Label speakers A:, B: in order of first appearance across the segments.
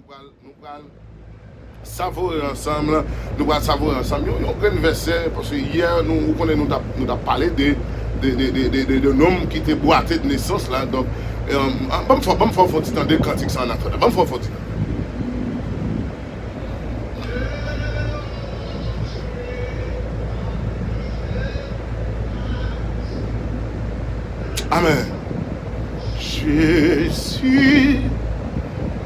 A: Nou pral savore ansanm, nou pral savore ansanm yon grenn vèsè paske yè nou ou konnen nou tap nou tap pale de de de nonm ki te bwate de nesans la donk banm fè banm fè w fon ti tande kantik sa an ap fè la banm fè w fon ti tande. Amen Jezi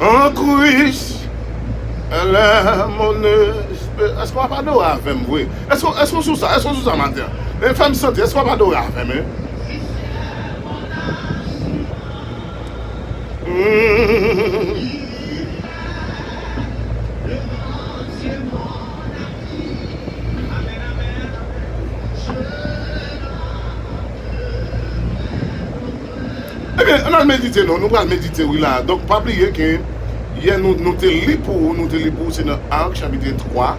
A: An Kris elè mon espe. Eske wap adore avèm vre eske eske ou sou sa eske ou sou sa maten an e fèm santi eske wap adore avèm e humm. Ebyen ann al medite non, nou pral medite wi la a. Donk pa bliye ke yè nou nou te li pou ou, nou te li pou ou se nan Ark chapitre 3,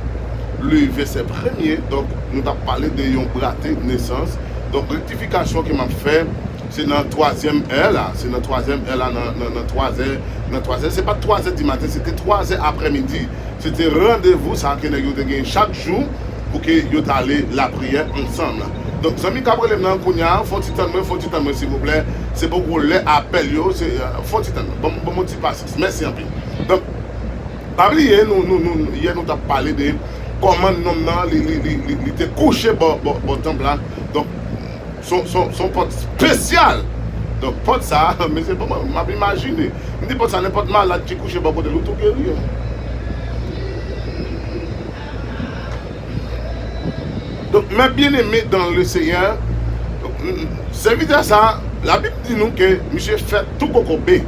A: le vèsè premye, donk nou t ap pale de yon brate, nesans. Donk rektifikasyon ke m ap fè se nan twazyèm è la, se nan twazyèm è la nan nan twazè nan twazè se pa t twazè dimaten se te twazè aprèmidi. Se te randevou sa ke nèg yo te gen chak jou pou ke yo ta ale lapriyè ansanm. Donk zanmi kap relem nan kounya fon ti tann mwen fon ti tann mwen silvouplè se poko lè apèl yo se fon ti tann mwen ban mwen ti pasyans mèsi anpil donk pa bliye nou nou nou yè nou tap pale de kòman nonm nan li li li li te kouche bò bò tanp la donk. Son pòt spesyal. Donk pòt sa a, mesye bon m ap imajine. M di pòt sa a nenpòt malad ki kouche bò kote l ou tou geri yo. Donk mè byeneme dan le Seyè, sèvitè sa a, labib di nou ke misye fèt tou kokobe.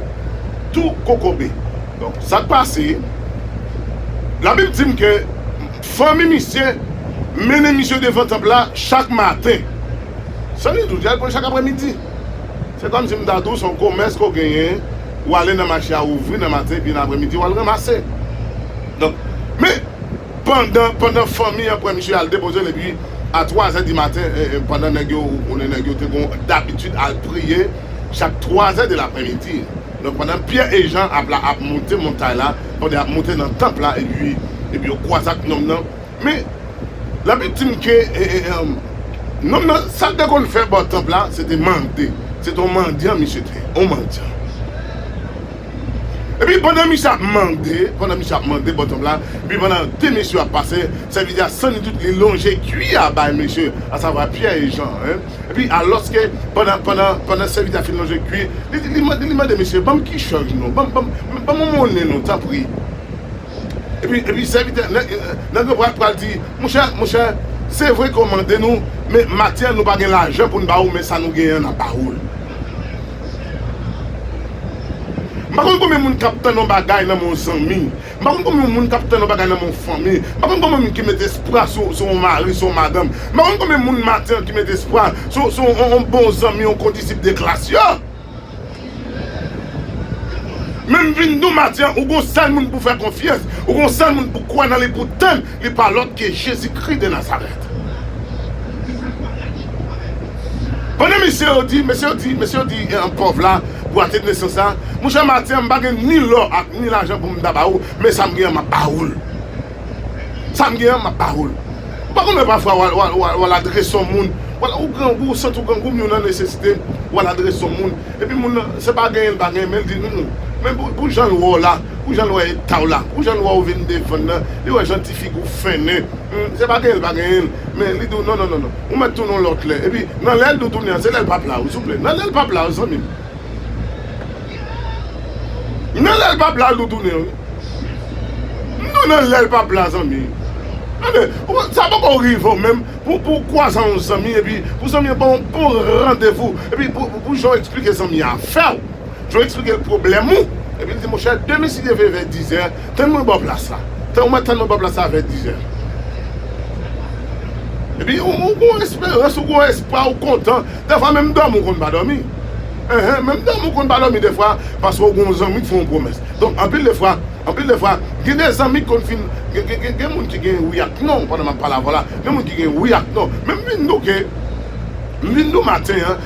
A: Tou kokobe. Donk sa k pase, labib di m ke. Fanmi misye mennen misye devan tanp la chak maten. Sannidout, y al pran l chak aprèmidi. Se kòmsi m ta di w se yon komès ke w genyen, ou ale nan mache a ouvri nan maten epi nan aprèmidi w al ranmase. Donk, men, pandan, pandan fanmi an pran misye al depoze l epi a twazè di maten, pandan nèg yo, ou konnen nèg yo te gon dabitid al priye chak twazè de laprèmidi. Donk pandan Pyè e Jan ap la ap moute montay la, pandan y ap moute nan tanp la, epi epi yo kwaze ak nonm nan, men, Labib di m ke nonm nan, sa l te konn fè bò tanp la, se te mande, se te yon mandyan misye te ye, yon mandyan. Epi pandan misye ap mande, pandan misye ap mande bò tanp la, epi pandan de mesye yo ap pase, sèvitè a sannitout, li lonje kwi a bay mesye, asavwa Pyè e Jan. Epi alòske pandan pandan pandan sèvitè a fin lonje kwi, li di li mande li mande mesye banm ki chaj nou banm banm banm yon monnen nou tanpri epi epi sèvitè nèg nèg yo pral pral di monchè monchè se vre ke w mande nou men maten an nou pa gen lajan pou n ba ou men sa nou genyen an n ap ba ou l. M pa konn konbyen moun k ap tann yon bagay nan men yon zanmi. M pa konn konbyen moun k ap tann yon bagay nan men yon fanmi. M pa konn konbyen moun ki met espwa sou yon mari, sou yon madanm. M pa konn konbyen moun maten an ki met espwa sou yon bon zanmi, yon kondisip de klas yo. Men m vin di w maten an, ou gen yon sèl moun pou w fè konfyans, ou gen yon sèl moun pou w kwè nan li, pou w tann. Li pa lòt ke Jezikri de Nazarèt. Pandan mesye yo di, mesye yo di, mesye yo di pòv la, pou akte de nesans la, Mon chè Matye, m pa gen ni lò ak ni lajan pou m ta ba ou, men sa m gen an, m ap ba ou l. Sa m gen an, m ap ba ou l. Ou pa konn lè pafwa w al, w al adrese yon moun, w al, ou grangou, ou santi w grangou, men w nan nesesite, w al adrese yon moun, epi moun nan, se pa genyen l pa genyen, men l di, Humm, men pou jan l wè w la, Pou jan l wè eta w la, pou jan l wè w vin devan nan, li wè jan ti figi w fennen, hum, se pa genyen l pa genyen l, men li di w non non non non, ou mèt tounen yon lòt lè, epi nan lè l di w tounen an se lè l pap la w, souple, nan lè l pap la w zanmi m. Nan lè l pap la l di w tounen an wi. M di w nan lè l pap la zanmi. Tande, ou pa, sa poko rive w menm pou pou w kwaze yon zanmi epi pou zanmi an ba w yon bon randevou, epi pou pou jan w esplike zanmi a fè w, Joe eksplike l pwoblèm ou, epi l di, Monchè, demen si Dye vle vè dizè, tann mwen bò plas la. Tann ou mèt tann mwen bò plas la vè dizè. Epi ou gen yon esperans, ou gen yon espwa, ou kontan. Dèfwa menm dòmi ou konn pa dòmi. Enhen, menm dòmi ou konn pa dòmi dèfwa, paske ou gen yon zanmi k fè yon pwomès. Donk, anpil de fwa, anpil de fwa, gen de zanmi k konn fin, gen, gen moun ki gen wi ak non, pandan m ap pale avè w la, gen moun ki gen wi ak non. Men m vin douke, m vin dou maten an,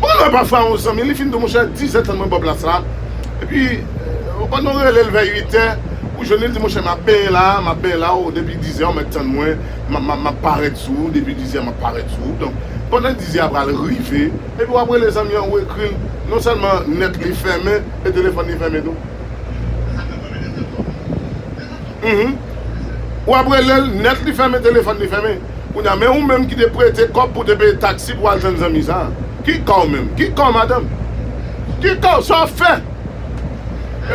A: Bon lè pafwa yon zanmi li fin di w monchè dizè tann mwen bò plas la epi ou konn ou rele l vè uitè ou jwenn li l di monchè m ap benyen la a m ap benyen la a depi dizè ou mèt tann mwen m ap parèt sou ou depi dizè m ap parèt sou ou donk pandan dizè a pral rive epi w ap rele zanmi an ou ekri l non sèlman nèt li fèmen e telefòn li fèmen tou humm ou ap rele l nèt li fèmen telefòn li fèmen. Kounye a men ou menm ki te prete kòb pou w te peye taksi pou w al jwenn zanmi sa a, ki ka w menm? Ki ka w madanm? Ki ka w? Sa w ap fè?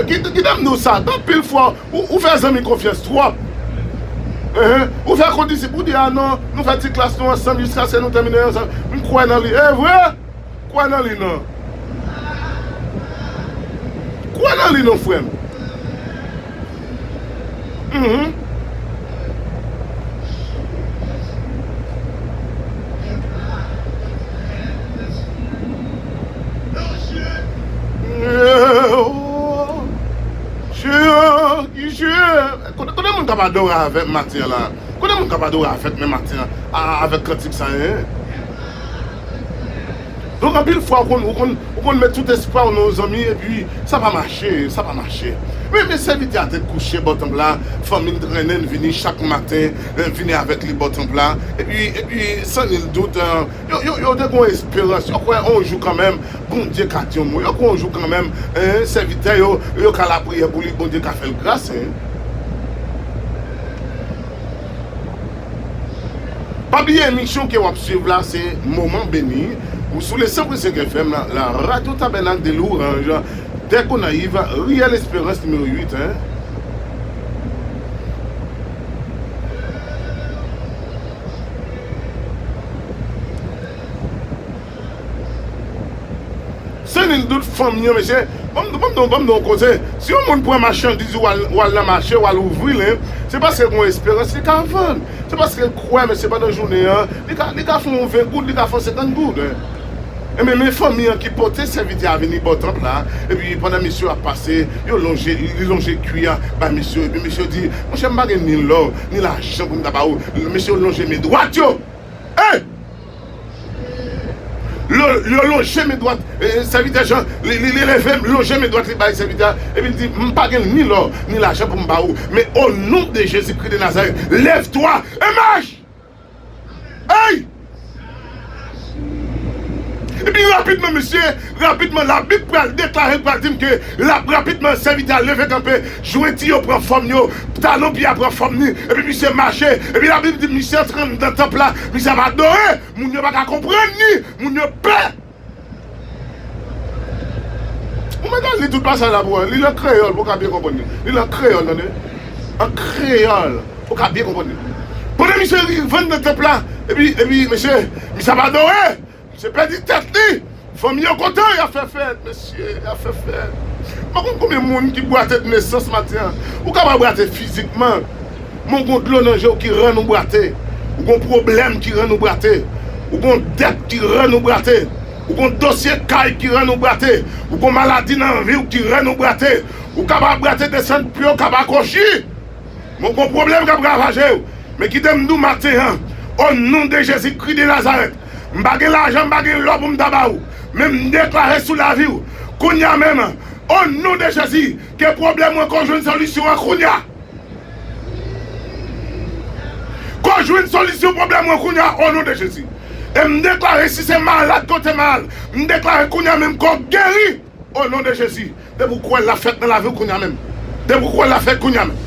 A: Kite m di w sa, anpil fwa ou fè zanmi konfyans twòp. Ou fè kondisip, ou di a non, nou fè ti klas nou ansanm jiskaske nou tèmine ansanm, m kwè nan li. E vre! Kwè nan li nan. Kwè nan li non frèm. Uhmm. Konbyen moun kap adore avèm maten an la? Konbyen moun kap adore avèk mwen maten an avèk kantik sa? Donk anpil fwa ou konn ou konn ou konn met tout espwa ou nan yon zanmi epi sa pa mache sa pa mache men men sèvitè a tèt kouche bò tanp la fanmi l trennen l vini chak maten vini avèk li bò tanp la epi epi san nil dout yo yo yo te gon esperans yo kwè on jou kanmenm Bondye ka di yon mo yo kwè on jou kanmenm en sèvitè yo yo ka lapriyè pou li Bondye ka fè l gras en. Pa bliye emisyon ke wap swiv la se Moman Beni ou sou le 100.5 FM la radio Tabernacle de Louange Tè Gonayiv Riyèl Esperans nimewo 8 en. Se li tout fanm yo mesye. Banm banm banm banm yon koze si yon moun pran machandiz ou wal wal nan mache wal ouvril hein se paske gon esperans li ka vann se paske kwè mesye pandan jounen an li ka li ka fon yon 20 goud li ka fon 50 goud hein enben men fanmi an ki pote sèvitè a vini bò tanp la epi pandan mesye yo ap pase yo lonje li lonje kwi a bay mesye yo epi mesye yo di monchè m pa gen ni lò ni lajan pou m ta ba ou mesye yo lonje men dwat yo eh L lonje men dwat sèvitè Jan, li leve, l lonje men dwat li bay sèvitè a, epi l di, M pa gen ni lò, ni lajan pou m ba ou, men o non de Jezikri de Nazarèt, lèvtwa e mach! Ey! Epi rapidman mesye. Rapidman Labib pral deklare, l pral di m ke lap rapidman sèvitè a leve kanpe, jwenti yo pran fòm yo, talon pye a pran fòm ni, epi misye mache, epi Labib di misye antre anndan tanp la, misye ap adore, moun yo pa ka konprann ni, moun yo pè. Ou mèt al li tout pasaj la pou wè, li l an kreyòl pou w ka byen konprann li, li l an kreyòl tande, an kreyòl pou w ka byen konprann li. Pandan misye rive anndan tanp la, epi, epi mesye, misye ap adore! Misye pèdi tèt li. Fanmi yo kontan yap fè fèt mesye yap fè fèt m pa konn konbyen moun ki bwate de nesans maten an ou ka pa bwate fizikman men ou gon dlo nan jew ki rann ou bwate ou gon pwoblèm ki rann ou bwate ou gon dèt ki rann ou bwate ou gon dosye kay ki rann ou bwate ou gon maladi nan viw ki rann ou bwate ou ka pa bwate desann pye ou ka pa kwochi men ou gon pwoblèm kap ravajew men kite m diw maten an o non de Jezi kri de Nazarèt M pa gen lajan, m pa gen lò pou m ta ba ou, men m deklare sou lavi ou kounye a menm, o non de Jezi, ke pwoblèm mwen ko jwenn solisyon an kounye a. Ko jwenn solisyon pwoblèm mwen kounye a o non de Jezi. E m deklare si se malad kote m al, m deklare kounye a menm ko geri. O non de jezi depi ou kwèl lap fèt nan laviw kounya menm depi ou kwèl lap fèt kounya menm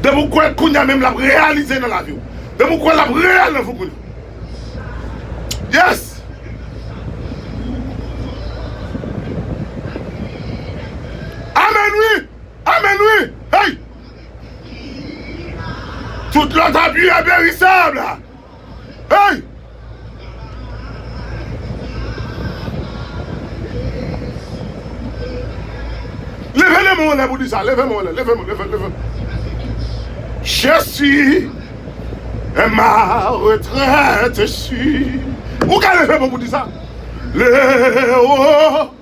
A: depi ou kwèl kounya menm lap reyalize nan laviw depi ou kwèl lap reyal nan viw kounya yes. Amen wi amen wi hey. Tout lòt abiye perisab la. Hey! Leve le men w anlè pou di sa. Leve men w anlè. Leve men, leve, leve. Jesi e ma retrèt e si. Ou ka leve men w pou di sa. Lewo.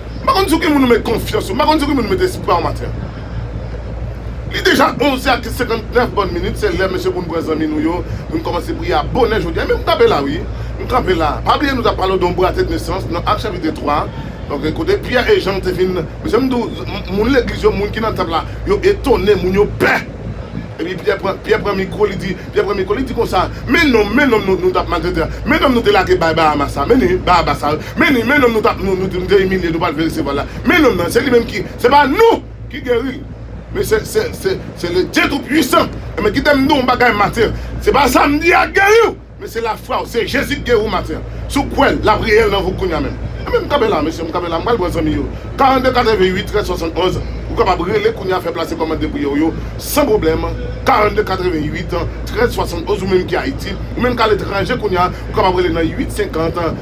A: M pa konn sou ki moun ou met konfyans ou. M pa konn sou ki moun ou met espwa ou maten an. Li deja 11 è ak 59 bòn minit. Se lè mesye pou n pran zanmi nou yo, pou n kòmanse priye a bonè jodi a. Men m kanpe la wi. M kanpe la. Pa bliye nou t ap pale w de yon bwate de nesans nan Ak chapitre 3 a. Ok. Kote Pyè e Jan te vin. Mesye m di w, moun legliz yo, moun ki nan tanp la, yo etone. Moun yo pè. Epi Pyè pran, Pyè pran mikwo, li di, Pyè pran mikwo, li di konsa, Men nonm, men nonm nou, nou t ap maltrete a. Men nonm nou te lage bay Bahamas a. Men li, Bahabas a. Men li, men nonm nou tap nou di nou te imilye nou pral fè resevwa la, men nonm nan, se li menm ki, se pa nou ki geri l, men se, se, se, se le Dye tou pwisan, enben kite m di w yon bagay maten an, se pa sa m di a k geri w, men se lafwa w, se Jezi k geri w maten an, si w kwè l, lap reyèl nan vi w kounya menm. Enben m kanpe la mesye, m kanpe la, m pral pran zanmi yo, 42 88 13 71, ou kapab rele kounya fè plase kòmand de priyè w yo san pwoblèm, 42 88 13 71 ou menm ki Ayiti, ou menm k a letranje kounya, ou kapab rele nan 8 50.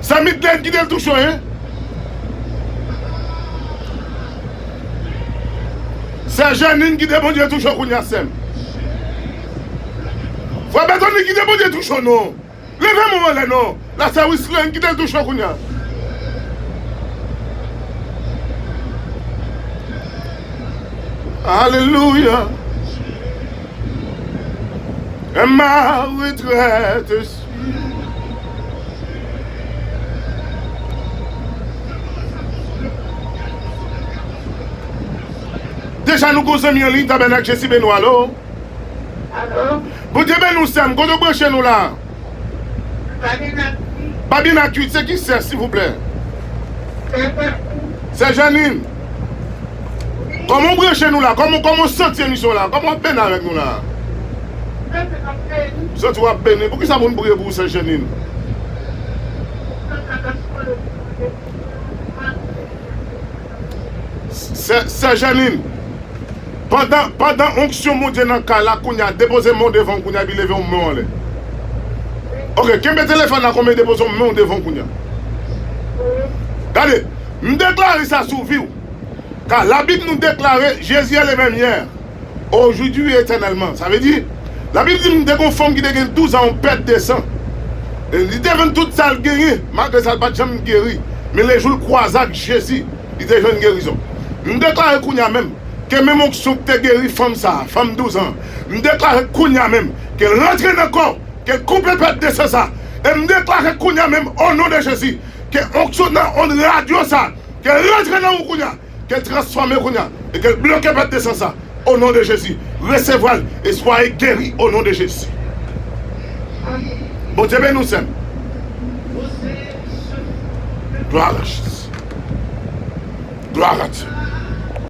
A: Sa Midlène kite l tou cho hein. Sè Jeanine kite Bondye tou cho kounya sèm. Frè Berthony kite Bondye tou cho non. Leve menw anlè non la sè Wisline kite l tou cho kounya. Alelouya. Emma retraite. Deja nou gon zanmi anliy tabènak jesi beni w alo. Alo.
B: Bondye beni
A: w sèm kote w branche nou la. Babina kuit. Babina kuit se ki sè silvouplè. Sè janine. Sè janine. Koman w branche nou la? Koman w santi emisyon an la? Koman w ap benn avèk nou la? M santi w ap beni. Poukisa pou n priye pou ou sè Jeanine? Sè Jeanine, pandan onksyon Bondye nan kay la kounya depoze men w devan w kounya epi leve yon men w anlè. Ok, kenbe telefòn la kon men depoze yon men w devan w kounya. Gade! M deklare sa sou vi w. Ka labib nou deklare jezi e le menm yè ojudi e etènèlman sa vle di la bib di m te gon fanm ki te gen 12 an yon pèt de san li te vann tout sal genyen malgre sa l pat janm geri men le jou l kwaze ak jezi li te jwenn gerizon m deklare kounya menm ke menm onksyon ki te geri fanm sa fanm 12 an m deklare kounya menm ke l rantre nan kò ke l koupe pèt de san sa e m deklare kounya menm o non de jezi ke onksyon nan ond radyo sa ke l rantre nan ou kounye a, ke l transfòme kounye a e ke l bloke pèt de san sa o non de Jezi, resevwa l e swaye geri o non de Jezi. Bondye beni w sè m. Gloire à Jesus. Gloire à Dieu.